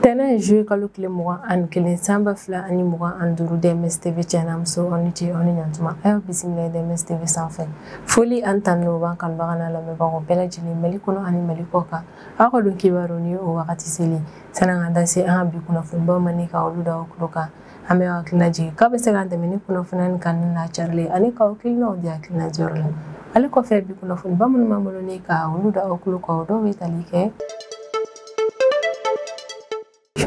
tɛnɛ ye juye kalo tile mugan ani kelen san ba fila ani mugan ani duuru dms tv cɛ n'a muso aw ni ce aw ni ɲantuma a y'aw bisimila dms tv sanfɛ foli ani tanu b'an kanubaga n'a lamɛnbagaw bɛɛ lajɛlen mali kɔnɔ ani mali kɔ kan aw ka don kibaru ni o wagati selen san'an ka da se an ka bi kunnafonibaw ma ni ka olu da aw tulo kan an bɛ hakilina jigin k'aw bɛ se k'an dɛmɛ ni kunnafoniya ni kanuni n'a carili ani k'aw hakilinaw di hakilina jɔyɔrɔ la ale kɔfɛ bi kunnafoniba minnu b'an bolo ni ka olu da aw tulo kan o dɔw bɛ tali kɛ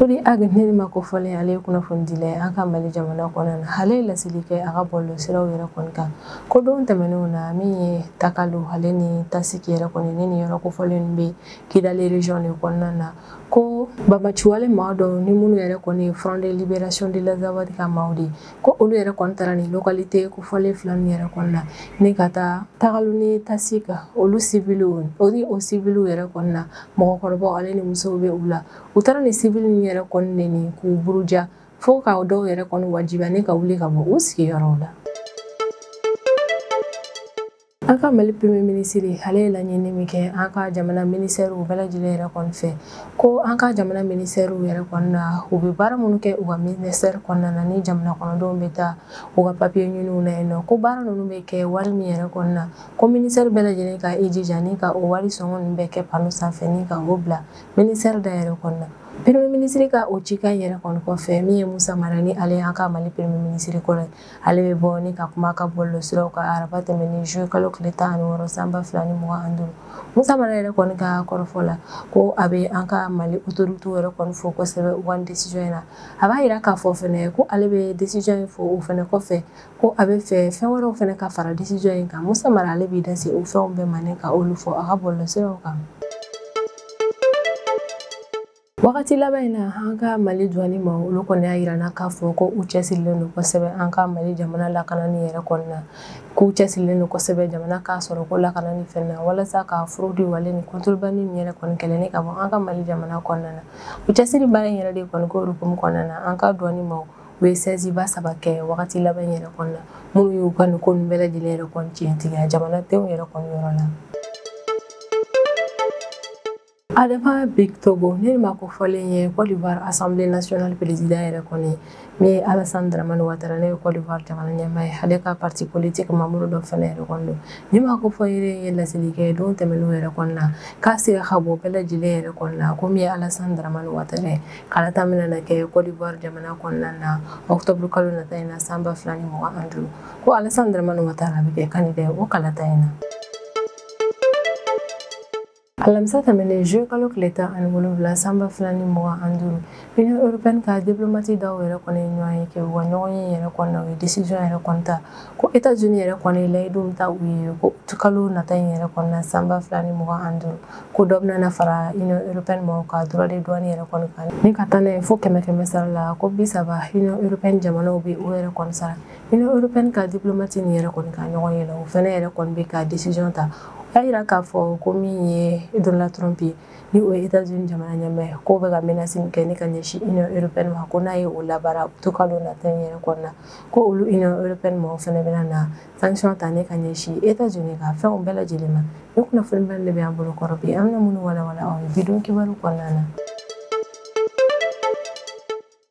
Chodi Ag ni maa kofɔlen ale ye kunnafonidila ye an ka Mali jamana kɔnɔna na ale ye laseli kɛ a ka bɔlɔlɔsiraw yɛrɛ kɔni kan ko don tɛmɛnenw na min ye Takalo ale ni Tasiki yɛrɛ kɔni na ni yɔrɔ kofɔlen bɛ Kidali region de kɔnɔna na ko banbaanciwale maa dɔw ni minnu yɛrɛ kɔni ye front de liberation de l'azawad ka maaw de ko olu yɛrɛ kɔni taara ni localité kofɔlen fila ninnu yɛrɛ kɔni na ni ka taa takalo ni tasiki olu sibiliw o ni o sibiliw yɛrɛ kɔni na mɔgɔkɔrɔbaw ale ni musow bɛ u la u taara ni sibili ninnu yɛrɛ kɔni neni k'u buruja fo ka dɔw yɛrɛ kɔni wajibiya ni ka wuli ka bɔ u sigiyɔrɔw la An ka Mali premier minisiri ale ye laɲini min kɛ an ka jamana minisɛriw bɛɛ lajɛlen yɛrɛ kɔni fɛ ko an ka jamana minisɛriw yɛrɛ kɔni na u bɛ baara minnu kɛ u ka minisɛri kɔnɔna na ni jamana kɔnɔdenw bɛ taa u ka papiye ɲiniw na yen nɔ ko baara ninnu bɛ kɛ wari min yɛrɛ kɔni na ko minisɛri bɛɛ lajɛlen ka i jija ni ka o wari sɔngɔ ninnu bɛɛ kɛ pano sanfɛ ni ka o bila minisɛri da yɛrɛ kɔni na premier minisiri ka o cikan yɛrɛ kɔni kɔfɛ min ye Musa Mara ni ale an ka Mali premier minisiri kɔrɔ ye ale bɛ bɔ ni ka kuma a ka bɔlɔlɔsiraw kan araba tɛmɛnen zuye kalo tile tan ani wɔɔrɔ san ba fila ni mugan ani duuru musa mara yɛrɛ kɔni ka kɔrɔfɔ la ko a bɛ an ka mali otoritew yɛrɛ kɔni fo kosɛbɛ u ka nin desizɔn in na a b'a yira k'a fɔ fɛnɛ ko ale bɛ desizɔn in fo o fɛnɛ kɔfɛ ko a b'a fɛ fɛn wɛrɛw fɛnɛ ka fara desizɔn in kan musa mara ale b'i da se o fɛnw bɛɛ ma ni ka olu fɔ a ka bɔlɔlɔsiraw kan wagati laban in na an ka mali duwani maa olu kɔni y'a yirana k'a fɔ ko u cɛsirilen don kosɛbɛ an ka mali jamana lakanani yɛrɛ kɔni na k'u cɛsirilen don kosɛbɛ jamana ka sɔrɔko lakanani fɛnɛ na walasa ka fraude wale ni contrebande min yɛrɛ kɔni kɛlɛ ni ka bɔ an ka mali jamana kɔnɔna na u cɛsiri baara in yɛrɛ de kɔni ko hukumu kɔnɔna na an ka duwani maaw ye sɛziba saba kɛ wagati laban yɛrɛ kɔni na minnu y'u ka nin ko ninnu bɛɛ lajɛlen yɛrɛ kɔni tiɲɛtigiya jamanadenw yɛrɛ kɔni yɔrɔ la Adama Bictogo nin maa kofɔlen ye Côte d'Ivoire Assemblée nationale président yɛrɛ kɔni min ye Alassane Dramane Ouattara ni o ye Côte d'Ivoire jamana ɲɛmaa ye ale ka parti politique membre dɔ fana yɛrɛ kɔni don nin maa kofɔlen ye laseli kɛ don tɛmɛnenw yɛrɛ kɔni na ka siga ka bɔ bɛɛ lajɛlen yɛrɛ kɔni na ko min ye Alassane Dramane Ouattara ye kalata min na kɛ Côte d'Ivoire jamana kɔnɔna na octobre kalo nata in na san ba fila ni mugan ani duuru ko Alassane Dramane Ouattara bɛ kɛ candidat ye o kalata in na. alamisa tɛmɛnen juillet kalo tile tan ani wolonwula sanba fila ni mugan ani duuru Union européenne ka diplomate dɔw yɛrɛ kɔni ye ɲɔgɔnye kɛ u ka ɲɔgɔnye yɛrɛ kɔnɔna u ye décision yɛrɛ kɔni ta ko États-Unis yɛrɛ kɔni ye layidu min ta u ye ko kalo nata in yɛrɛ kɔnɔna sanba fila ni mugan ani duuru ko dɔ bɛna fara Union européenne maaw ka droit de douane yɛrɛ kɔni kan ni ka taa n'a ye fo kɛmɛ kɛmɛ sara la ko bi saba Union européenne jamanaw bɛ o yɛrɛ kɔni sara Union européenne ka diplomate nin yɛrɛ kɔni ka ɲɔgɔnye la o fana yɛrɛ kɔni bɛ ka décision ta y'a jira k'a fɔ ko min ye Donald Trump ye ni o ye États-Unis jamana ɲɛmaa ye k'o bɛ ka menace min kɛ ni ka ɲɛsin Union européenne ma ko n'a ye o labaara to kalo nata in yɛrɛ kɔnɔna ko olu Union européenne maaw fana bɛna na sanction ta ni ka ɲɛsin États-Unis ka fɛnw bɛɛ lajɛlen ma nin kunnafoni bɛɛ de bɛ an bolo kɔrɔ bi an bɛna minnu walawala aw ye bi don kibaru kɔnɔna na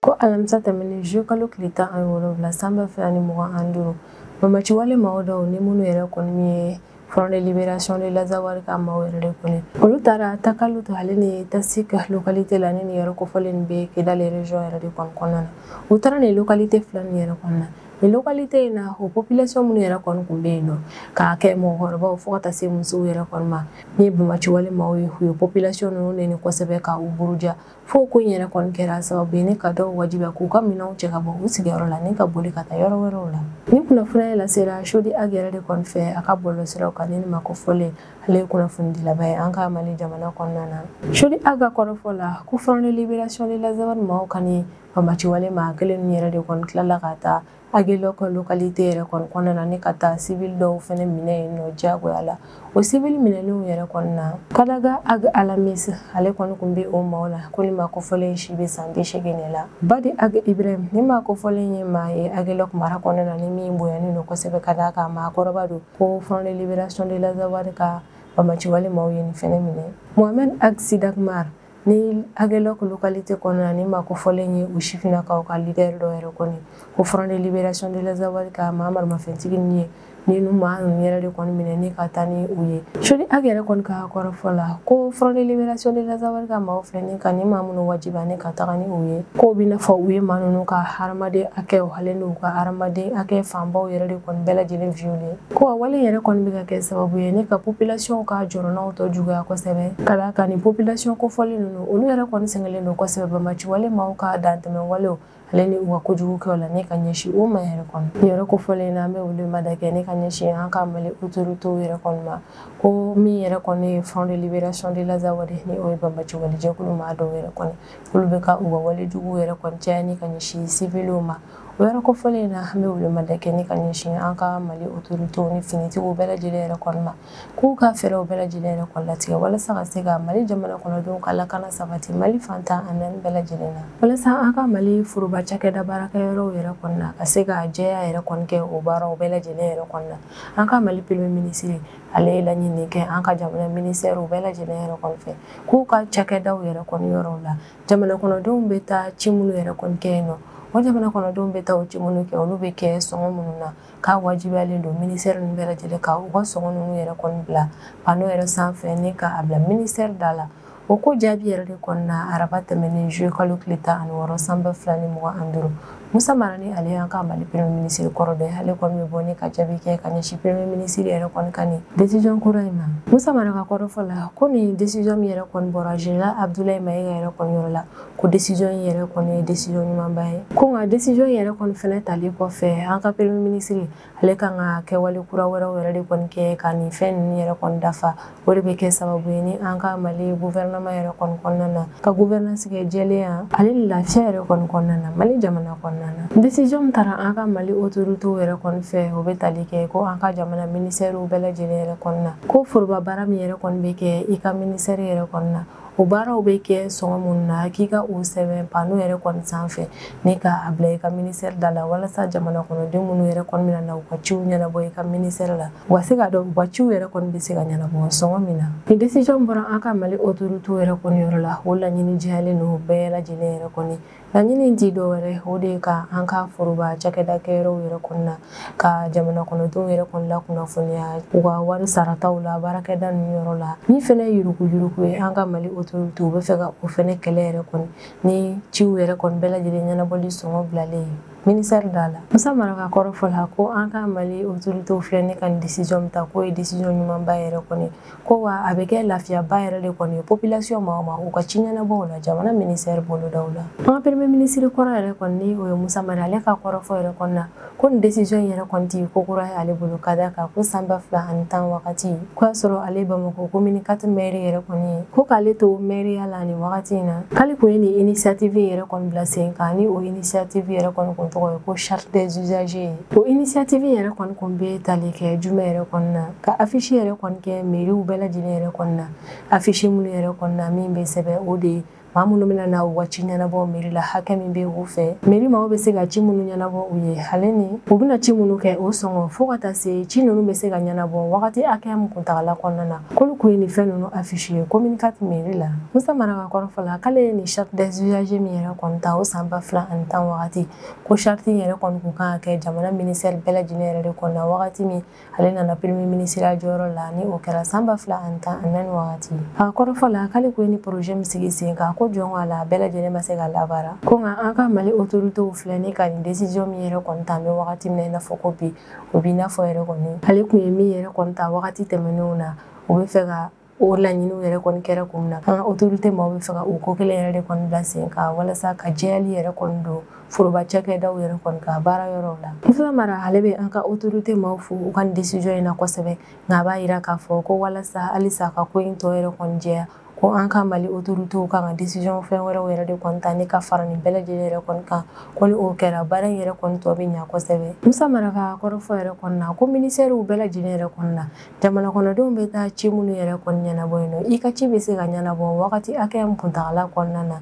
ko alamisa tɛmɛnen juillet kalo tile tan ani wolonwula sanba fila ni mugan ani duuru banbaanciwale mɔgɔ dɔw ni minnu yɛrɛ kɔni min ye Front de Libération de l'Azawad ka maaw yɛrɛ de kɔni olu taara Takalot ale ni Tassik ka localité la ni nin yɔrɔ kofɔlen bɛ Kidal région yɛrɛ de kɔni kɔnɔna na u taara nin localité fila nin yɛrɛ kɔnɔna nin localité in na o population minnu yɛrɛ kɔni tun bɛ yen nɔ k'a kɛ mɔgɔkɔrɔbaw fo ka taa se musow yɛrɛ kɔni ma ni ye banbaanciwale maaw ye u ye population ninnu neni kosɛbɛ ka u buruja fo ko in yɛrɛ kɔni kɛra sababu ye ni ka dɔw wajibiya k'u ka minɛnw cɛ ka bɔ u sigiyɔrɔ la ni ka boli ka taa yɔrɔ wɛrɛw la ni kunnafoniya lasera Chodi Ag yɛrɛ de kɔni fɛ a ka bɔlɔlɔsiraw kan nin maa kofɔlen ale ye kunnafonidilaba ye an ka Mali jamana kɔnɔna na Chodi Ag ka kɔrɔfɔ la ko Front de Libération de l'Azawad maaw ka nin banbaanciwale maa kelen ninnu yɛrɛ de kɔni tilala ka taa Aguelhok ka localité yɛrɛ kɔni kɔnɔna na ni ka taa civil dɔw fɛnɛ minɛ yen nɔ diyagoya la o civil minɛlenw yɛrɛ kɔni na Kadaga Ag Alamis ale kɔni tun bɛ o maaw la ko nin maa kofɔlen si bɛ san bi seegin de la Badi Ag Ibrahim nin maa kofɔlen ye maa ye Aguelhok mara kɔnɔna na ni min bonyanen don kosɛbɛ ka d'a kan maakɔrɔba don ko Front de Libération de l'Azawad ka banbaanciwale maaw ye nin fɛnɛ minɛ Mohamed Ag Sidakmar nin Aguelhok ka localité kɔnɔna nin maa kofɔlen ye u sifinnakaw ka leader dɔ yɛrɛ kɔni ko front de libération de l'Azawad ka maa maramafɛntigi nin ye ninnu maa ninnu yɛrɛ de kɔni minɛ ni ka taa ni u ye Chodi Ag yɛrɛ kɔni ka kɔrɔfɔ la ko front de libération de l'Azawad ka maaw filɛ ni ka ni maa minnu wajibiya ni ka taga ni u ye k'o bɛ i n'a fɔ u ye maa ninnu ka hadamaden hakɛ halen n'u ka hadamaden hakɛ fanbaw yɛrɛ de kɔni bɛɛ lajɛlen violé Ko a wale yɛrɛ kɔni bɛ ka kɛ sababu ye ni ka population ka jɔrɔnaw tɔ juguya kosɛbɛ ka d'a kan nin population kofɔlen ninnu olu yɛrɛ kɔni sɛgɛnlen don kosɛbɛ bamaciwale maaw ka dantɛmɛ walew ale ni u ka kojugu kɛw la ni ka ɲɛsin o ma yɛrɛ kɔni yɔrɔ kofɔlen na an bɛ welemada kɛ ni ka ɲɛsin an ka mali autorités yɛrɛ kɔni ma ko min yɛrɛ kɔni ye front de libération de l'Azawad ni o ye bamaciwale jɛkulu maa dɔw yɛrɛ kɔni olu bɛ ka u ka wale juguw yɛrɛ kɔni caya ni ka ɲɛsin civiliw ma o yɔrɔ kofɔlen in na an bɛ welemada kɛ ni ka ɲɛsin an ka mali otoritew ni finitigiw bɛɛ lajɛlen yɛrɛ kɔni ma k'u ka fɛɛrɛw bɛɛ lajɛlen yɛrɛ kɔni latigɛ walasa ka se ka mali jamana kɔnɔdenw ka lakana sabati mali fan tan ani naani bɛɛ lajɛlen na walasa an ka mali foroba cakɛda baarakɛyɔrɔw yɛrɛ kɔni na ka se ka jɛya yɛrɛ kɔni kɛ o baaraw bɛɛ lajɛlen yɛrɛ kɔni na an ka mali premier minisiri ale ye laɲini kɛ an ka jamana minisɛriw bɛɛ lajɛlen yɛrɛ kɔni fɛ k'u ka cakɛdaw yɛrɛ kɔni yɔrɔw la jamana kɔnɔdenw bɛ taa ci minnu yɛrɛ kɔni kɛ yen nɔ o jamana kɔnɔdenw bɛ taa o ci minnu kɛ olu bɛ kɛ sɔngɔ minnu na k'a wajibiyalen don minisɛri ninnu bɛɛ lajɛlen ka u ka sɔngɔ ninnu yɛrɛ kɔni bila pano yɛrɛ sanfɛ ni k'a bila minisɛri da la o ko jaabi yɛrɛ de kɔni na araba tɛmɛnen zuye kalo tile tan ani wɔɔrɔ san ba fila ni mugan ni duuru Musa mara ni ale y'an ka mali premier minisiri kɔrɔ dɔ ye ale kɔni bɛ bɔ ni ka jaabi kɛ ka ɲɛsin premier minisiri yɛrɛ kɔni ka nin desijɔn kura in ma musa mara ka kɔrɔfɔ la ko nin desijɔn min yɛrɛ kɔni bɔra général Abdoulaye Maïga yɛrɛ kɔni yɔrɔ la ko desijɔn in yɛrɛ kɔni ye desijɔn ɲumanba ye ko nka desijɔn yɛrɛ kɔni fana talen kɔfɛ an ka premier minisiri ale kan ka kɛwale kura wɛrɛw yɛrɛ de kɔni kɛ ka nin fɛn ninnu yɛrɛ kɔni dafa o de bɛ kɛ sababu ye ni an ka mali guvɛrɛnaman yɛrɛ kɔni kɔnɔna na ka guvɛrɛnansi kɛ jɛlenya ale ni lafiya yɛrɛ kɔni kɔnɔna na mali jamana kɔnɔna na desiziyɔn min taara an ka mali otoritew yɛrɛ kɔni fɛ o bɛ tali kɛ ko an ka jamana minisɛriw bɛɛ lajɛlen yɛrɛ kɔni na ko foroba baara min yɛrɛ kɔni bɛ kɛ i ka minisɛri yɛrɛ kɔni na o baaraw bɛ kɛ sɔngɔ minnu na k'i ka o sɛbɛn pano yɛrɛ kɔni sanfɛ ni k'a bila i ka minisɛri da la walasa jamana kɔnɔden minnu yɛrɛ kɔni bɛna na u ka ciw ɲɛnabɔ i ka minisɛri la u ka se k'a dɔn u ka ciw yɛrɛ kɔni bɛ se ka ɲɛnabɔ sɔngɔ min na ni desijɔn bɔra an ka mali otoritew yɛrɛ kɔni yɔrɔ la o laɲini jɛyalen don bɛɛ lajɛlen yɛrɛ kɔni Laɲini ti dɔ wɛrɛ o de ka an ka foroba cakɛda kɛyɔrɔw yɛrɛ kɔni na ka jamana kɔnɔdenw yɛrɛ kɔni lakunnafoniya u ka wari sarataw la baarakɛda ninnu yɔrɔ la min fɛnɛ ye yuruguyurugu ye an ka mali autorité u bɛ fɛ ka o fɛnɛ kɛlɛ yɛrɛ kɔni ni ciw yɛrɛ kɔni bɛɛ lajɛlen ɲɛnabɔli sɔngɔ bilalen ye minisɛri da la musa mara ka kɔrɔfɔ la ko an ka mali autorité filɛ ni ka nin décision min ta k'o ye décision ɲumanba yɛrɛ kɔni ko wa a bɛ kɛ lafiyaba yɛrɛ de kɔni ye population maaw ma u ka ci ɲɛnabɔw la jamana ministɛri bolodaw la an ka premier minisiri kɔrɔ yɛrɛ kɔni o ye musa mara ale ka kɔrɔfɔ yɛrɛ kɔni na ko nin desizɔn in yɛrɛ kɔni ti ko kura ye ale bolo ka d'a kan ko san ba fila ani tan wagati ko y'a sɔrɔ ale bamakɔ commune quatre mɛri yɛrɛ kɔni ye ko k'ale to mɛriya la nin wagati in na k'ale kun ye nin initiative yɛrɛ kɔni bila sen kan ni o initiative yɛrɛ kɔni kun tɔgɔ ye ko charte des usagers ye o initiative yɛrɛ kɔni kun bɛ tali kɛ jumɛn yɛrɛ kɔni na ka affiche yɛrɛ kɔni kɛ meriw bɛɛ lajɛlen yɛrɛ kɔni na affiche minnu yɛrɛ kɔni na min bɛ sɛbɛn o de ye maa minnu bɛna na u ka ci ɲɛnabɔ meri la hakɛ min bɛ u fɛ meri maaw bɛ se ka ci minnu ɲɛnabɔ u ye ale ni u bɛna ci minnu kɛ o sɔngɔ fo ka taa se ci ninnu bɛ se ka ɲɛnabɔ wagati hakɛya min kuntagala kɔnɔna na k'olu kun ye nin fɛn ninnu affiche ye commune quatre meri la musa mara ka kɔrɔfɔ la k'ale ye nin charte des usagers min yɛrɛ kɔni ta o san ba fila ani tan wagati ko charte in yɛrɛ kɔni kun kan ka kɛ jamana ministère bɛɛ lajɛlen yɛrɛ de kɔnɔna wagati min ale nana premier minisiriya jɔyɔrɔ la ni o kɛra san ba fila ani tan ani naani wagati a kɔrɔfɔ la k'ale kun ye nin projet min sigi sen kan ko jɔn k'ala a bɛɛ lajɛlen ma se ka labaara ko nka an ka mali autoritew filɛ ni ka nin décision min yɛrɛ kɔni ta an bɛ wagati min na i n'a fɔ ko bi o b'i n'a fɔ yɛrɛ kɔni ale kun ye min yɛrɛ kɔni ta wagati tɛmɛnenw na o bɛ fɛ ka o laɲiniw yɛrɛ kɔni kɛra kun min na an ka otorite maaw bɛ fɛ ka o ko kelen yɛrɛ de kɔni bila sen kan walasa ka jɛyali yɛrɛ kɔni don foroba cakɛdaw yɛrɛ kɔni ka baara yɔrɔw la musa mara ale bɛ an ka otorite maaw fo u ka nin desizɔn in na kosɛbɛ nka a b'a yira k'a fɔ ko walasa halisa ka ko in tɔ yɛrɛ kɔni jɛya ko an ka mali otoritew kan ka desizɔn fɛn wɛrɛw yɛrɛ de kɔni ta ni ka fara nin bɛɛ lajɛlen yɛrɛ kɔni kan ko ni o kɛra baara in yɛrɛ kɔni tɔ bɛ ɲa kosɛbɛ musa mara ka kɔrɔfɔ yɛrɛ kɔni na ko ministɛriw bɛɛ lajɛlen yɛrɛ kɔni na jamana kɔnɔdenw bɛ taa ci minnu yɛrɛ kɔni ɲɛnabɔ yen nɔ i ka ci bɛ se ka ɲɛnabɔ wagati hakɛya min kuntagala kɔnɔna na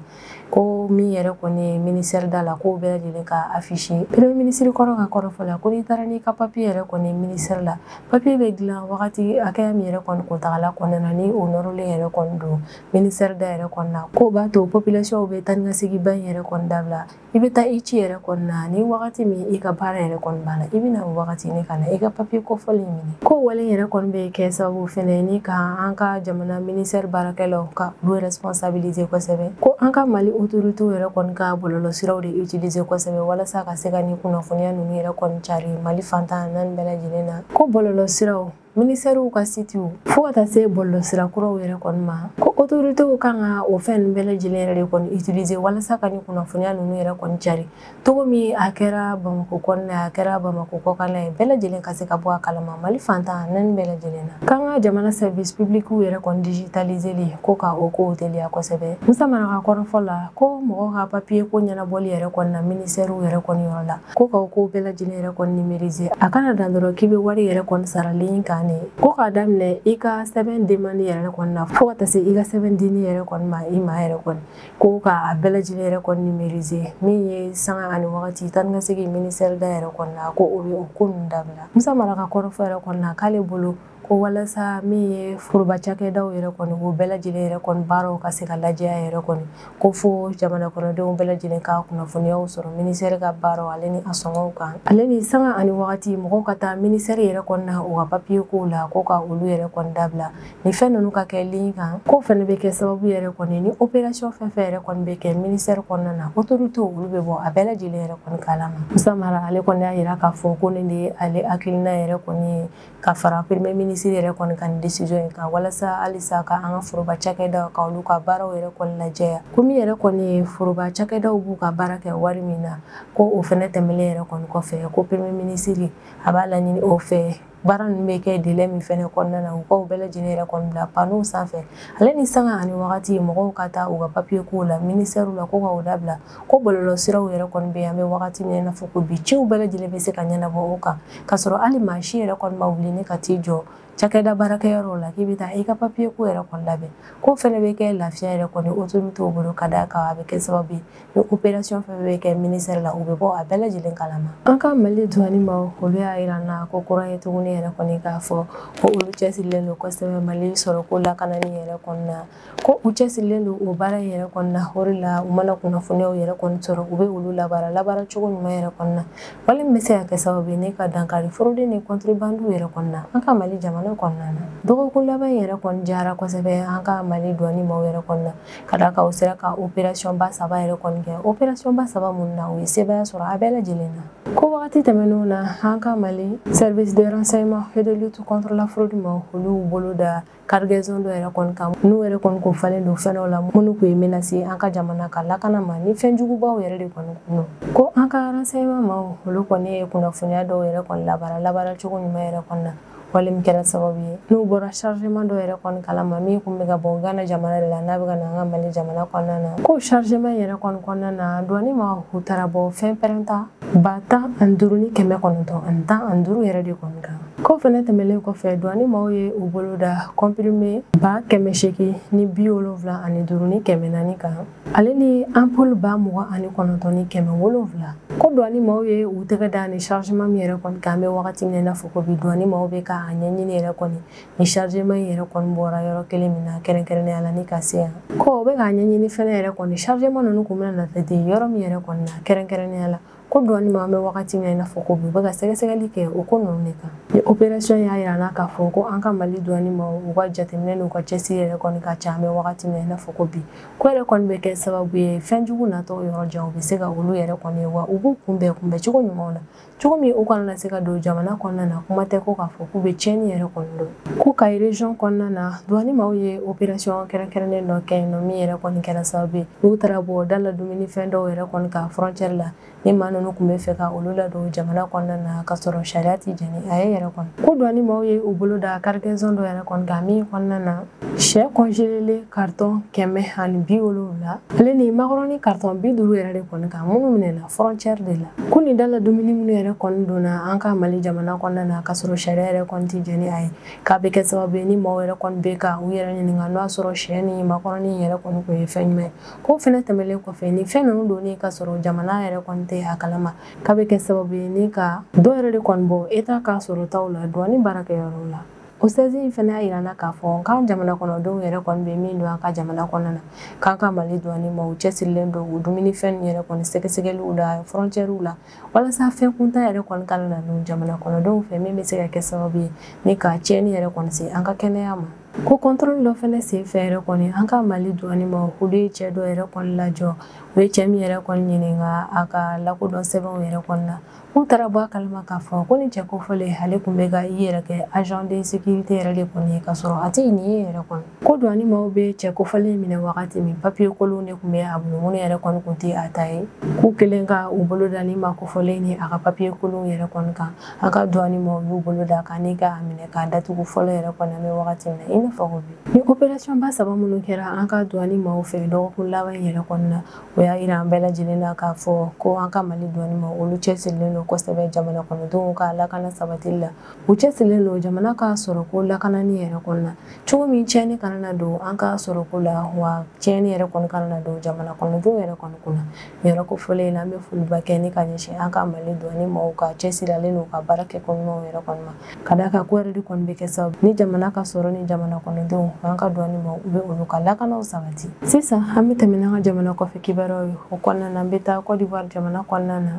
ko min yɛrɛ kɔni ye ministɛri da la k'o bɛɛ lajɛlen ka afisi premier minisiri kɔrɔ ka kɔrɔfɔ la ko n'i taara n'i ka papiye yɛrɛ kɔni ministɛri la papiye bɛ dilan wagati hakɛya min yɛrɛ kɔni kuntagala kɔnɔna na ni o nɔrɔlen yɛrɛ kɔni don ministɛri da yɛrɛ kɔni na k'o b'a to population bɛ taanikasegin ba in yɛrɛ kɔni dabila i bɛ taa i ci yɛrɛ kɔni na nin wagati min i ka baara yɛrɛ kɔni banna i bɛna wagati ne ka na i ka papiye kofɔlen minɛ k'o wale yɛrɛ kɔni bɛ kɛ sababu fɛnɛ ni ka an ka jamana ministɛri baarakɛlaw ka olu responsabilise kosɛbɛ ko an ka mali otoritew yɛrɛ kɔni ka bɔlɔlɔsiraw de utilise kosɛbɛ walasa ka se ka nin kunnafoniya ninnu yɛrɛ kɔni cari mali fan tan naani bɛɛ lajɛlen na ko bɔlɔlɔsiraw ministɛriw ka sitiw fo ka taa se bɔlɔlɔsira kuraw yɛrɛ kɔni ma ko otoritew kan ka o fɛn ninnu bɛɛ lajɛlen yɛrɛ de kɔni utiliser walasa ka nin kunnafoniya ninnu yɛrɛ kɔni cari cogo min a kɛra bamako kɔnɔna ye a kɛra bamako kɔkanna ye bɛɛ lajɛlen ka se ka bɔ a kalama mali fan tan naani bɛɛ lajɛlen na k'an ka jamana service publicw yɛrɛ kɔni digitaliseli ko ka o kow teliya kosɛbɛ musa mara ka kɔrɔfɔ la ko mɔgɔ ka papiye ko ɲɛnabɔli yɛrɛ kɔni na ministɛriw yɛrɛ kɔni yɔrɔ la ko ka ko bɛɛ lajɛlen yɛrɛ kɔni nimerize a kana dan dɔrɔn k'i bɛ wari yɛrɛ kɔni sara lin kan ne ko k'a daminɛ i ka sɛbɛn demani yɛrɛ kɔni na fo ka taa se i ka sɛbɛn dini yɛrɛ kɔni ma i ma yɛrɛ kɔni ko k'a bɛɛ lajɛlen yɛrɛ kɔni nimerize min ye sanga ani wagati taa ni ka segin minisɛri da yɛrɛ kɔni na ko o ye o ko ninnu dabila musa mara ka kɔrɔfɔ yɛrɛ kɔni na k'ale bolo ko walasa min ye foroba cakɛdaw yɛrɛ kɔni o bɛɛ lajɛlen yɛrɛ kɔni baaraw ka se ka lajɛya yɛrɛ kɔni ko fo jamana kɔnɔdenw bɛɛ lajɛlen ka kunnafoniyaw sɔrɔ minisɛri ka baaraw ale ni a sɔngɔw kan ale ni sanga ani wagati mɔgɔw ka taa minisɛri yɛrɛ kɔni na u ka papiye kow la ko ka olu yɛrɛ kɔni dabila ni fɛn ninnu ka kɛ lin kan ko fɛnɛ bɛ kɛ sababu yɛrɛ kɔni ni operasiyɔn fɛn fɛn yɛrɛ kɔni bɛ kɛ minisɛri kɔnɔna na otorite olu bɛ bɔ a bɛɛ lajɛlen yɛrɛ kɔni kalama musa mara ale kɔni y'a yira k'a fɔ ko nin de ye ale hakilina yɛrɛ kɔni ye ka fara premier ministre yɛrɛ kɔni ka nin décision in kan walasa halisa ka an ka foroba cakɛdaw ka olu ka baaraw yɛrɛ kɔni lajɛya ko min yɛrɛ kɔni ye foroba cakɛdaw b'u ka baara kɛ wari min na ko o fɛnɛ tɛmɛlen yɛrɛ kɔni kɔfɛ ko premier ministre a b'a laɲini o fɛ baara ninnu bɛ kɛ délai min fɛnɛ kɔnɔna na u ka u bɛɛ lajɛlen yɛrɛ kɔni bila panow sanfɛ ale ni sanga ani wagati mɔgɔw ka taa u ka papiye kow la ministɛriw la ko ka o dabila ko bɔlɔlɔsiraw yɛrɛ kɔni bɛ yan an bɛ wagati min na i n'a fɔ ko bi ciw bɛɛ lajɛlen bɛ se ka ɲɛnabɔ o kan k'a sɔrɔ hali maa si yɛrɛ kɔni ma wuli ne ka t'i jɔ cakɛda baarakɛyɔrɔ la k'i bɛ taa i ka papiye ko yɛrɛ kɔni labɛn ko fɛnɛ bɛ kɛ lafiya yɛrɛ kɔni autorité bolo ka d'a kan a bɛ kɛ sababu ye ni opération fɛn bɛ kɛ ministère la u bɛ bɔ a bɛɛ lajɛlen kalama an ka mali duwani maaw olu y'a yira an na ko kura ye tuguni yɛrɛ kɔni k'a fɔ ko olu cɛsirilen don kosɛbɛ mali sɔrɔko lakanani yɛrɛ kɔni na ko u cɛsirilen don o baara in yɛrɛ kɔni na o de la u mana kunnafoniyaw yɛrɛ kɔni sɔrɔ u bɛ olu labaara labaara cogo ɲuman yɛrɛ kɔni na wale min bɛ se ka kɛ sababu ye ne ka dankari fraude ni kɔntrebandiw yɛrɛ kɔni na an ka mali jamana kɔnɔna na dɔgɔkun laban in yɛrɛ kɔni diyara kosɛbɛ an ka mali duwani maaw yɛrɛ kɔni na ka d'a kan u sera ka operasiyɔn ba saba yɛrɛ kɔni kɛ operasiyɔn ba saba minnu na u ye sebaaya sɔrɔ a bɛɛ lajɛlen na ko wagati tɛmɛnenw na an ka mali service de renseignement et de lutte contre la fraude maaw olu bolo da cargaison dɔ yɛrɛ kɔni kan n'u yɛrɛ kɔni kun falen don fɛn dɔw la minnu kun ye menace ye an ka jamana ka lakana ma ni fɛn jugubaw yɛrɛ de kɔni kun don ko an ka renseignement maaw olu kɔni ye kunnafoniya dɔw yɛrɛ kɔni labaara labaara cogo ɲuman yɛrɛ kɔni na wale min kɛra sababu ye n'u bɔra chargement dɔ yɛrɛ kɔni kalama min kun bɛ ka bɔ gana jamana de la n'a bɛ ka na an ka mali jamana kɔnɔna na ko chargement yɛrɛ kɔni kɔnɔna na duwani maaw u taara bɔ fɛnpɛrɛnta ba tan ani duuru ni kɛmɛ kɔnɔntɔn ani tan ani duuru yɛrɛ de kɔni kan Ko fɛnɛ tɛmɛlen kɔfɛ duwani maaw ye u bolo da kɔnpirime ba kɛmɛ seegin ni bi wolonwula ani duuru ni kɛmɛ naani kan ale ni anpulu ba mugan ani kɔnɔntɔn ni kɛmɛ wolonwula ko duwani maaw ye u tɛgɛ da nin chargement min yɛrɛ kɔni kan an bɛ wagati min na i n'a fɔ ko bi duwani maaw bɛ ka a ɲɛɲini yɛrɛ kɔni nin chargement in yɛrɛ kɔni bɔra yɔrɔ kelen min na kɛrɛnkɛrɛnnenya la ni ka se yan ko u bɛ k'a ɲɛɲini fɛnɛ yɛrɛ kɔni chargement ninnu kun bɛna na taa di yɔrɔ min yɛrɛ kɔni na kɛrɛnkɛrɛnnenya la ko douane maaw bɛ wagati min na i n'a fɔ ko bi u bɛ ka sɛgɛsɛgɛli kɛ o ko ninnu de kan ni operation y'a yira an na k'a fɔ ko an ka mali douane maaw ka jateminɛ n'u ka cɛsiri yɛrɛ kɔni ka ca an bɛ wagati min na i n'a fɔ ko bi ko yɛrɛ kɔni bɛ kɛ sababu ye fɛn jugu natɔ yɔrɔ jan u bɛ se ka olu yɛrɛ kɔni ye wa u b'u kunbɛn kunbɛn cogo ɲumanw na cogo min u kana na se ka don jamana kɔnɔna na kuma tɛ ko k'a fɔ k'u bɛ tiɲɛni yɛrɛ kɔni don ko kayi region kɔnɔna na douane maaw ye operation kɛrɛnkɛrɛnnen dɔ kɛ yen nɔ min yɛrɛ kɔni kɛra sababu ye n'u taara bɔ da la dumuni fɛn dɔw yɛrɛ kɔni kan frontière la ni maa ninnu tun bɛ fɛ ka olu ladon jamana kɔnɔna na ka sɔrɔ sariya tɛ jɛn ni a ye yɛrɛ kɔni ko douane maaw ye u bolo da cargaison dɔ yɛrɛ kɔni kan min kɔnɔna na sɛ congelé carton kɛmɛ ani bi wolonwula ale ni makɔrɔni carton bi duuru yɛrɛ de kɔni kan minnu minɛna frontière de la ko nin da la dumuni minnu yɛrɛ kɔni donna an ka mali jamana kɔnɔna na ka sɔrɔ sariya yɛrɛ kɔni tɛ jɛn ni a ye k'a bɛ kɛ sababu ye ni maaw yɛrɛ kɔni bɛ ka u yɛrɛ ɲininka n'o y'a sɔrɔ sɛ ni makɔrɔni yɛrɛ kɔni tun ye fɛn ɲuman ye k'o fɛnɛ tɛmɛlen kɔfɛ ni fɛn ninnu donnen ka sɔrɔ jamana yɛrɛ kɔni tɛ a kalama k'a bɛ kɛ sababu ye ni ka dɔ yɛrɛ de kɔni bɔ état ka sɔrɔtaw la douane baarakɛyɔrɔw la o sɛzi in fɛnɛ y'a yira an na k'a fɔ k'an jamana kɔnɔdenw yɛrɛ kɔni bɛ min don an ka jamana kɔnɔna na k'an ka mali douane maaw cɛsirilen don u dumunifɛn yɛrɛ kɔni sɛgɛsɛgɛliw la fɔrɔncɛriw la walasa fɛn kuntan yɛrɛ kɔni kana na don jamana kɔnɔdenw fɛ min bɛ se ka kɛ sababu ye ni ka tiɲɛni yɛrɛ kɔni se an ka kɛnɛya ma ko kɔntɔrɔli dɔ fɛnɛ sen fɛ yɛrɛ kɔni an ka mali douane maaw olu ye cɛ dɔ yɛrɛ kɔni lajɔ u ye cɛ min yɛrɛ kɔni ɲininka a ka lakodɔn sɛbɛnw yɛrɛ kɔni na k'u taara bɔ a kalama k'a fɔ ko ni cɛ kofɔlen ale tun bɛ ka i yɛrɛ kɛ agent de sécurité yɛrɛ de kɔni ye ka sɔrɔ a tɛ nin ye yɛrɛ kɔni ko douane maaw bɛ cɛ kofɔlen minɛ wagati min papiye kolon de tun bɛ a bolo minnu yɛrɛ kɔni tun tɛ a ta ye k'u kɛlen ka u bolo da ni ma kofɔlen ni a ka papiye kolon yɛrɛ kɔni kan an ka douane maaw y'u bolo da a kan ni ka a minɛ k'a datugu fɔlɔ yɛrɛ kɔni an bɛ wagati min na i n'a fɔ ko bi ni operasiyɔn ba saba minnu kɛra an ka douane maaw fɛ dɔgɔkun laban in yɛrɛ kɔni na o y'a yira an bɛɛ lajɛlen na k'a fɔ ko an ka mali douane maaw olu cɛsirilen don kosɛbɛ jamana kɔnɔdenw ka lakana sabatili la u cɛsirilen don jamana ka sɔrɔko lakanani yɛrɛ kɔni na cogo min tiɲɛni kana na don an ka sɔrɔko la wa tiɲɛni yɛrɛ kɔni kana na don jamana kɔnɔdenw yɛrɛ kɔni kunna nin yɔrɔ kofɔlen in na an bɛ foliba kɛ ni ka ɲɛsin an ka mali douane maaw ka cɛsirilen don ka baara kɛ ko ɲumanw yɛrɛ kɔni ma ka d'a kan ko yɛrɛ de kɔni bɛ kɛ sababu ni jamana ka sɔrɔ ni jamana kɔnɔdenw an ka douane maaw u bɛ olu ka lakanaw sabati sisan an bɛ tɛmɛ n'an ka jamana kɔfɛ kibaruyaw ye o kɔnɔna na an bɛ taa kɔdiwari jamana kɔnɔna na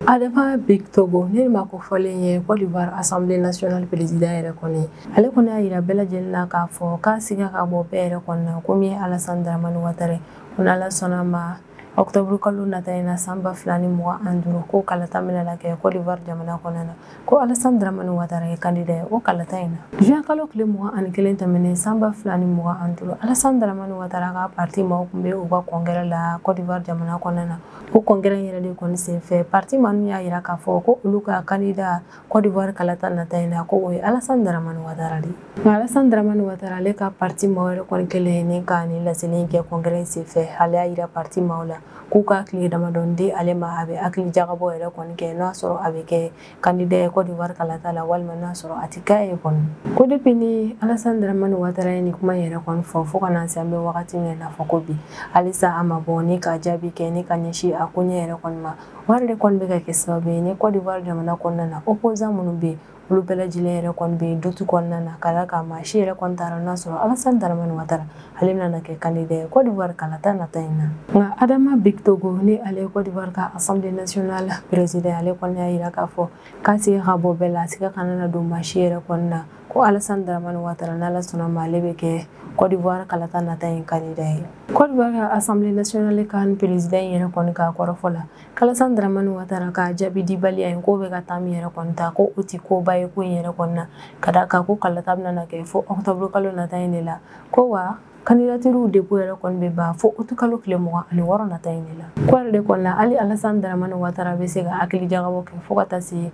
Adama Bictogo nin maa kofɔlen ye Côte d'Ivoire Assemblée nationale président yɛrɛ kɔni ale kɔni y'a jira bɛɛ lajɛlen na k'a fɔ k'a siga ka bɔ bɛɛ yɛrɛ kɔni na ko min ye Alassane Dramane Ouattara ko n'Ala sɔnna ma octobre kalo nata in na san ba fila ni mugan ani duuru ko kalata bɛna na kɛ Côte d'Ivoire jamana kɔnɔna na ko Alassane Dramane Ouattara ye kandida ye o kalata in na juin kalo tile mugan ani kelen tɛmɛnen san ba fila ni mugan ani duuru Alassane Dramane Ouattara ka parti maaw tun bɛ u ka congrès la Côte d'Ivoire jamana kɔnɔna na o congrès in yɛrɛ de kɔni senfɛ parti maa ninnu y'a jira k'a fɔ ko olu ka kandida Côte d'Ivoire kalata nata in na ko o ye Alassane Dramane Ouattara de ye Alassane Dramane Ouattara ale ka parti maaw yɛrɛ kɔni kɛlen ni ka nin laseli kɛ congrès in senfɛ ale y'a jira parti maaw la k'u ka tile damadɔni di ale ma a bɛ hakili jagabɔ yɛrɛ kɔni kɛ n'a sɔrɔ a bɛ kɛ kandida ye Côte d'Ivoire kalata la walima n'a sɔrɔ a tɛ k'a ye kɔni ko depuis ni Alassane Dramane Ouattara ye nin kuma yɛrɛ kɔni fɔ fo ka na se an bɛ wagati min na fɔ ko bi halisa a ma bɔ ni ka jaabi kɛ ni ka ɲɛsin a koɲɛ yɛrɛ kɔni ma o yɛrɛ de kɔni bɛ ka kɛ sababu ye ni Côte d'Ivoire jamana kɔnɔna na opposant minnu bɛ yen olu bɛɛ lajɛlen yɛrɛ kɔni bɛ yen doute kɔnɔna na ka d'a kan maa si yɛrɛ kɔni t'a dɔn n'a sɔrɔ Alassane Dramane Ouattara ale bɛna kɛ kandida ye Côte d'Ivoire kalata nata in na. Nka Adama Bictogo ni ale ye Côte d'Ivoire ka Assemblée nationale président ale kɔni y'a jira k'a fɔ k'a siga ka bɔ bɛɛ la, a siga kana na don maa si yɛrɛ kɔni na ko Alassane Dramane Ouattara n'Ala sɔnna ma ale bɛ kɛ Côte d'Ivoire kalata nata in kandida ye. Cote d'Ivoire ka Assemblée nationale ka président in yɛrɛ kɔni ka kɔrɔfɔ la, k'Alassane Dramane Ouattara ka jaabi dibaliya in k'o bɛ ka temps min yɛrɛ kɔni ta ko o tɛ koba ye ko in yɛrɛ kɔni na, ka d'a kan ko kalata bɛna na kɛ fo octobre kalo nata in de la. ko wa candidaturew dépôt yɛrɛ kɔni bɛ ban fo août kalo tile mugan ani wɔɔrɔ nata in de la k'o yɛrɛ de kɔni na hali Alassane Dramane Ouattara bɛ se ka hakili jagabɔ kɛ fo ka taa se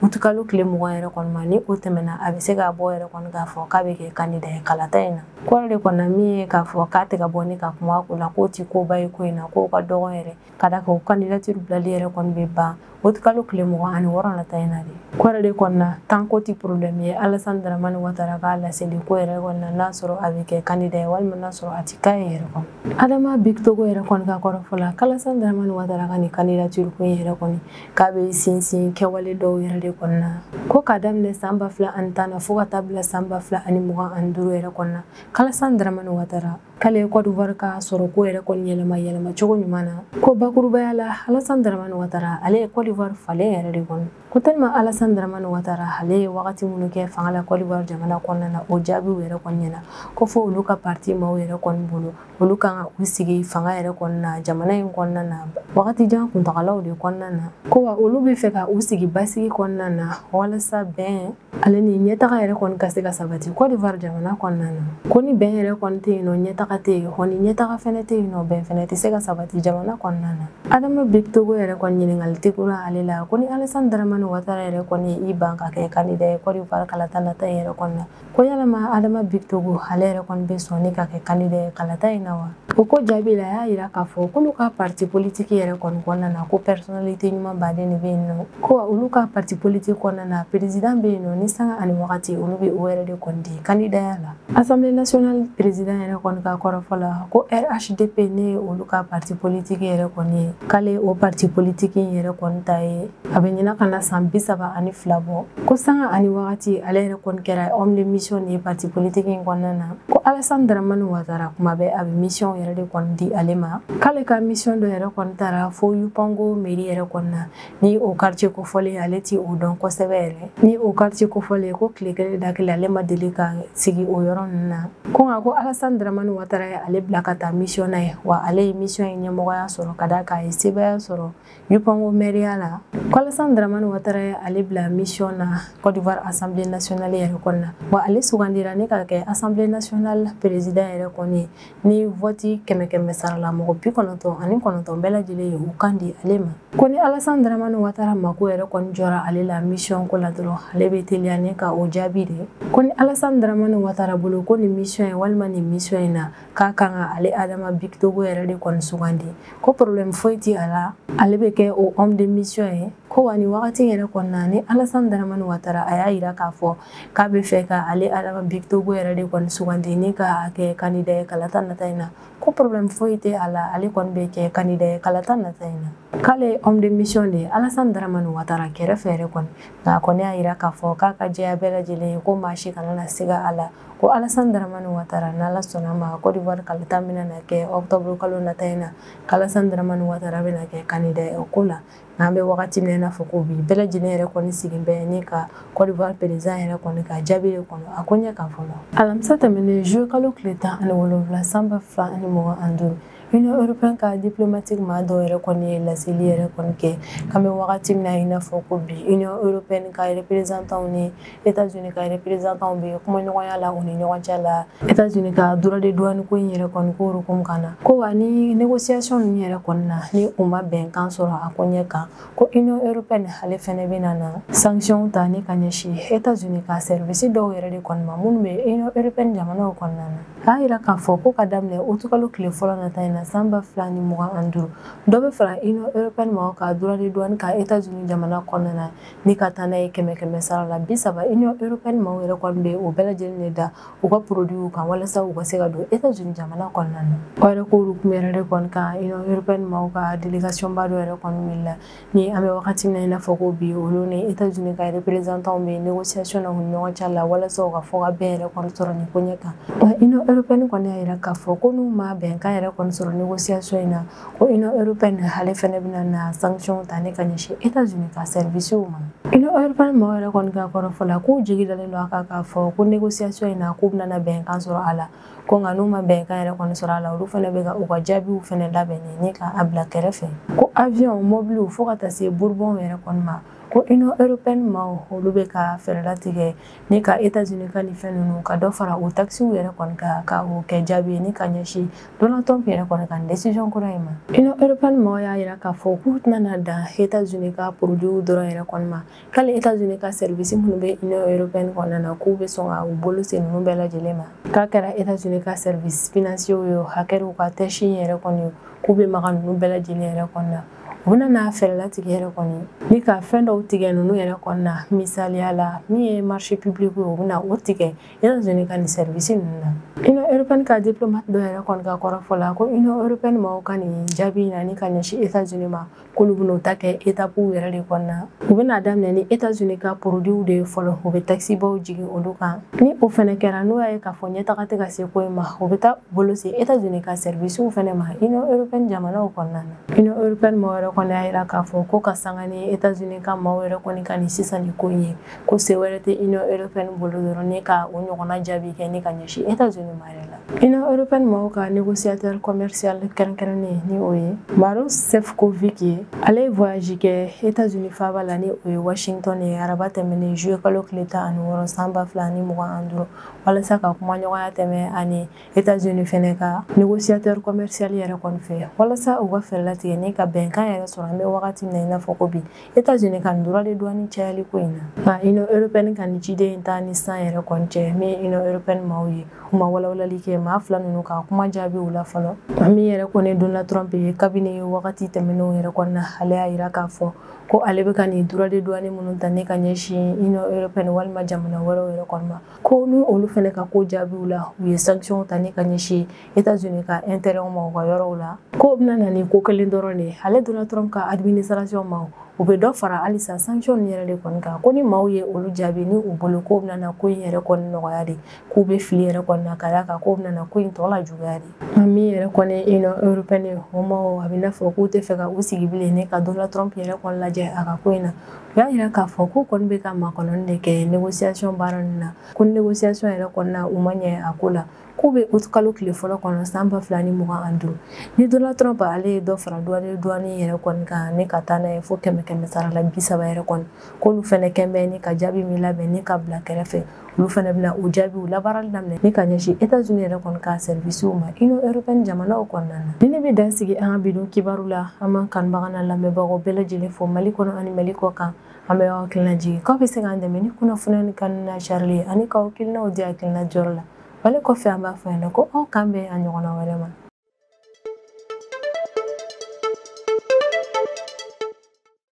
août kalo tile mugan yɛrɛ kɔni ma ni o tɛmɛna a bɛ se ka bɔ yɛrɛ kɔni k'a fɔ k'a bɛ kɛ kandida ye kalata in na k'o yɛrɛ de kɔni na min ye k'a fɔ k'a tɛ ka bɔ ni ka kuma ko la k'o tɛ koba ye ko in na k'o ka dɔgɔn yɛrɛ ka d'a kan o candidature bilali yɛrɛ kɔni bɛ ban août kalo tile mugan ani wɔɔrɔ nata in na de k'o yɛrɛ de kɔni na tan k'o tɛ problème ye Alassane Dramane Ouattara ka laseli ko yɛrɛ kɔni na n'a sɔrɔ a bɛ kɛ kandida ye walima n'a sɔrɔ a tɛ k'a ye yɛrɛ kɔni Adama Bictogo yɛrɛ kɔni ka kɔrɔfɔ la k'Alassane Dramane Ouattara ka nin candidature ko in yɛrɛ kɔni k'a bɛ sinsin kɛwale dɔw yɛrɛ de kɔni na ko k'a daminɛ san ba fila ani tan na fo ka taa bila san ba fila ani mugan ani duuru yɛrɛ kɔni na k'Alassane Dramane Ouattara k'ale ye Côte d'Ivoire ka sɔrɔ ko yɛrɛ kɔni yɛlɛma yɛlɛma cogo ɲuman na ko bakurubaya la Alassane Dramane Ouattara ale ye Côte d'Ivoire falen yɛrɛ de kɔni ko tellement Alassane Dramane Ouattara ale ye wagati minnu kɛ fanga la Côte d'Ivoire jamana kɔnɔna na o jaabiw yɛrɛ kɔni ɲɛna ko fo olu ka parti maaw yɛrɛ kɔni bolo olu kan ka u sigi fanga yɛrɛ kɔnɔna na jamana in kɔnɔna na wagati jan kuntagalaw de kɔnɔna na ko wa olu b'a fɛ ka u sigi basigi kɔnɔna na walasa bɛn ale ni ɲɛtaga yɛrɛ kɔni ka se ka sabati cote d'ivoire jamana kɔnɔna na ko ni bɛn yɛrɛ kɔni tɛ yen nɔ ɲɛtaga tɛ yen hɔn ni ɲɛtaga fɛnɛ tɛ yen nɔ bɛn fɛnɛ tɛ se ka sabati jamana kɔnɔna na adama bikitogo yɛrɛ kɔni ɲininkali tun kɛra ale la ko ni alasan daramani watara yɛrɛ kɔni ye i ban ka kɛ kandida ye cote d'ivoire kalata nata in yɛrɛ kɔni na ko yalama adama bikitogo ale yɛrɛ kɔni bɛ sɔn ni ka kɛ kandida ye kalata in na wa o ko jaabi la a y'a yira k'a fɔ k'olu ka parti politiki yɛrɛ kɔni kɔnɔna na ko personnalité ɲuman baden de bɛ yen nɔ ko olu ka parti politiki kɔnɔna na président bɛ yen nɔ ni sanga ani wagati olu bɛ o yɛrɛ de kɔni di kandidaya la assemblée nationale président yɛrɛ kɔni ka kɔrɔfɔ la ko rhdp ne ye olu ka parti politiki yɛrɛ kɔni ye k'ale o parti politiki in yɛrɛ kɔni ta ye a bɛ ɲina ka na san bi saba ani fila bɔ ko sanga ani wagati ale yɛrɛ kɔni kɛra homme de mission de ye parti politiki in kɔnɔna na ko alasan daramani watara kuma bɛɛ a bɛ misiyɔn yɛrɛ de kɔni di ale ma k'ale ka misiyɔn dɔ yɛrɛ kɔni taara fo yupango meri yɛrɛ kɔni na ni o karitiye kofɔlen ale ti o dɔn kosɛbɛ yɛrɛ ni o karitiye kofɔlen ko tile kelen da kelen ale ma deli ka sigi o yɔrɔ ninnu na ko nka ko alasan daramani watara ye ale bila ka taa misiyɔn na yen wa ale ye misiyɔn in ɲɛmɔgɔya sɔrɔ ka d'a kan a ye sebaya sɔrɔ Yupango mɛriya la ko Alassane Dramani Watara ye ale bila mission na Côte d'Ivoire Assemblée nationale yɛrɛ kɔni na wa ale sugandira ne ka kɛ Assemblée nationale président yɛrɛ kɔni ni vote kɛmɛ kɛmɛ sarala mɔgɔ bi kɔnɔntɔn ani kɔnɔntɔn bɛɛ lajɛlen ye u kan di ale ma ko ni Alassane Dramani Watara mako yɛrɛ kɔni jɔra ale la mission ko la dɔrɔn ale bɛ teliya ne ka o jaabi de ko ni Alassane Dramani Watara bolo ko nin mission ye walima nin mission in na k'a kan ka ale adama bikitogo yɛrɛ de kɔni sugandi ko problème foyi ti a la ale bɛ kɛ o homme de mission ye ko wa ni wagati yɛrɛ kɔnɔna ni alasan daramani watara a y'a yira k'a fɔ k'a bɛ fɛ ka ale adama bikitogo yɛrɛ de kɔni sugandi ni ka kɛ kandida ye kalata nata in na ko problème foyi tɛ a la ale kɔni bɛ kɛ kandida ye kalata nata in na k'ale ye homme de mission de ye alasan daramani watara kɛrɛfɛ yɛrɛ kɔni nka a kɔni y'a yira k'a fɔ k'a ka jɛya bɛɛ lajɛlen ye ko maa si kana na siga a la ko alasan daramani watara n'ala sɔnna ma kɔdiwari kalata bɛna na kɛ ɔkutɔburu kalo nata in na k'alasan daramani watara bɛna kɛ kandida ye o ko la n'an bɛ wagati min na i n'a fɔ ko bi bɛɛ lajɛlen yɛrɛ kɔni sigin bɛ ni ka kɔdiwari perezidan yɛrɛ kɔni ka jaabi de kɔnɔ a ko ɲɛ kan fɔlɔ alamisa tɛmɛnen zuluye kalo tile tan ani wolonwula san ba fila ani mugan ani duuru Union européenne ka diplomatique maa dɔw yɛrɛ kɔni ye laseli yɛrɛ kɔni kɛ k'an bɛ wagati min na i n'a fɔ ko bi Union européenne ka représentant ni États-Unis ka représentant bɛ kumaɲɔgɔnya la u ni ɲɔgɔn cɛ la États-Unis ka droit de douane ko in yɛrɛ kɔni ko hukumu kan na ko wa ni négociation ninnu yɛrɛ kɔni na ni u ma bɛnkan sɔrɔ a ko ɲɛ kan ko union européenne ale fɛnɛ bɛna na sanctions ta ni ka ɲɛsin états unis ka service dɔw yɛrɛ de kɔni ma minnu bɛ union européenne jamanaw kɔnɔna na a y'a yira k'a fɔ ko ka daminɛ utikalo tile fɔlɔ nata in na san ba fila ni mugan ani duuru dɔ bɛ fara union européenne maaw ka droit de douane kan états unis jamana kɔnɔna na ni ka taa n'a ye kɛmɛ kɛmɛ sara la bi saba union européenne maaw yɛrɛ kɔni bɛ o bɛɛ lajɛlen de da u ka produits kan walasa u ka se ka don États-Unis jamana kɔnɔna na. O yɛrɛ ko hukumu yɛrɛ de kɔni kan Union européenne maaw ka délégation ba dɔ yɛrɛ kɔni wulila ni an bɛ wagati min na i n'a fɔ ko bi olu ni États-Unis ka représentants bɛ négociation na u ni ɲɔgɔn cɛ la walasa u ka fɔ ka bɛn yɛrɛ kɔni sɔrɔ nin ko ɲɛ kan. Wa Union européenne kɔni y'a yira k'a fɔ ko n'u ma bɛnkan yɛrɛ kɔni sɔrɔ négociation in na ko union européenne ale fɛnɛ bɛna na sanction ta ni ka ɲɛsin états unis ka servicew ma union européenne maaw yɛrɛ kɔni ka kɔrɔfɔ la k'u jigi dalen don a kan k'a fɔ ko négociation in na k'u bɛna bɛnkan sɔrɔ a la ko nka n'u ma bɛnkan yɛrɛ kɔni sɔrɔ a la olu fɛnɛ bɛ ka u ka jaabiw fɛnɛ labɛn ni ka a bila kɛrɛfɛ ko avion mɔbiliw fo ka taa se bourbonw yɛrɛ kɔni ma ko union européenne maaw olu bɛ ka fɛɛrɛ latigɛ ni ka États-Unis ka nin fɛn ninnu ka dɔ fara o taxes yɛrɛ kɔni kan ka o kɛ jaabi ye ni ka ɲɛsin Donald Trump yɛrɛ kɔni ka nin décision kura in ma. Union européenne mɔgɔw y'a yira k'a fɔ k'u tɛna na dan États-Unis ka produits dɔrɔn yɛrɛ kɔni ma ko hali États-Unis ka service minnu bɛ Union européenne kɔnɔna na k'u bɛ sɔn ka u bolo se ninnu bɛɛ lajɛlen ma k'a kɛra États-Unis ka service financiers ye o a kɛ u ka tech yɛrɛ kɔni k'u bɛ maga ninnu bɛɛ lajɛlen yɛrɛ kɔni na. u bɛna na fɛɛrɛ latigɛ yɛrɛ kɔni ni ka fɛn dɔw tigɛ ninnu yɛrɛ kɔni na misaliya la min ye marché public ye u bɛna o tigɛ états-unis ka nin service ninnu na union européenne ka diplomate dɔ yɛrɛ kɔni ka kɔrɔfɔ la ko union européenne mɔgɔw ka nin jaabi na ni ka ɲɛsin états-unis ma k'olu bɛn'o ta kɛ étapew yɛrɛ de kɔni na u bɛna daminɛ ni états-unis ka produiw de ye fɔlɔ u bɛ taxe baw jigin olu kan ni o fɛnɛ kɛra n'o y'a ye k'a fɔ ɲɛtaga tɛ ka se ko in ma u bɛ taa bolo se états-unis ka servicew fɛnɛ ma union européenne jamanaw kɔnɔna na Union européenne maaw yɛrɛ kɔni y'a yira k'a fɔ ko ka sanga ni États-Unis ka maaw yɛrɛ kɔni ka nin sisan nin ko in ye ko se wɛrɛ tɛ Union européenne bolo dɔrɔn ni ka o ɲɔgɔnna jaabi kɛ ni ka ɲɛsin États-Unis ma yɛrɛ la. Union européenne maaw ka négociateur commercial kɛrɛnkɛrɛnnen ni o ye Maros Sefcovic ye ale ye voyage kɛ États-Unis faaba la ni o ye Washington ye araba tɛmɛnen juillet kalo tile tan ani wɔɔrɔ san ba fila ani mugan ani duuru walasa ka kumaɲɔgɔnya tɛmɛ a ni États-Unis fɛnɛ ka négociateur commercial yɛrɛ kɔni fɛ walasa u ka fɛɛrɛ latigɛ ni ka bɛnkan yɛrɛ sɔrɔ an bɛ wagati min na i n'a fɔ ko bi États-Unis ka nin droit de douane cayali ko in na nka Union européenne ka nin ciden in taa ni sisan yɛrɛ kɔni cɛ min ye Union européenne maaw ye u ma walawalali kɛ maa fila ninnu ka kuma jaabiw la fɔlɔ min yɛrɛ kɔni Donald Trump ye kabini wagati tɛmɛnenw yɛrɛ kɔni na ale y'a yira k'a fɔ ko ale bɛ ka nin droit de douane minnu ta ni ka ɲɛsin Union européenne walima jamana wɛrɛw yɛrɛ kɔni ma ko ni olu fɛnɛ ka ko jaabiw la u ye sanctionw ta ni ka ɲɛsin etazini ka intérêtw ma u ka yɔrɔw la k'o bɛna na ni ko kelen dɔrɔn de ale donald trump ka administration ma u bɛ dɔ fara halisa sanction nin yɛrɛ de kɔni kan ko ni maaw ye olu jaabi ni u bolo k'o bɛna na ko in yɛrɛ kɔni nɔgɔya de k'u bɛ fili yɛrɛ kɔni na ka d'a kan k'o bɛna na ko in tɔ lajuguya de nka min yɛrɛ kɔni union européenne o maaw a bɛ n'a fɔ k'u tɛ fɛ ka u sigi bilen ni ka donald trump yɛrɛ kɔni lajɛ a ka ko in na u y'a yira k'a fɔ k'u kɔni bɛ ka makɔnɔni de kɛ négociation baara nin na ko négociation yɛrɛ kɔni na u ma ɲɛ a ko la k'u bɛ août kalo tile fɔlɔ kɔnɔ san ba fila ni mugan ani duuru ni donald trump ale ye dɔ fara duwani duwani yɛrɛ kɔni kan ni ka taa n'a ye fo kɛmɛ kɛmɛ sara la bi saba yɛrɛ kɔni k'olu fɛnɛ kɛn bɛ ni ka jaabi min labɛn ni ka bila kɛrɛfɛ olu fana bɛna o jaabiw labaarali daminɛ ni ka ɲɛsin etazini yɛrɛ kɔni ka sɛrivisiw ma union européenne jamanaw kɔnɔna na nin de bɛ dan sigi an ka bi don kibaru la an b'an kanubaga n'an lamɛnbagaw bɛɛ lajɛlen fo mali kɔnɔ ani mali kɔ kan an bɛ aw hakilina jigin k'aw bɛ se k'an dɛmɛ ni kunnafoni nin kanu n'a carili ye ani k'aw hakilinaw di hakilina di yɔrɔ la wale kɔfɛ an b'a fɔ yan nɔ ko aw k'an bɛn a ɲɔgɔnna wɛrɛ ma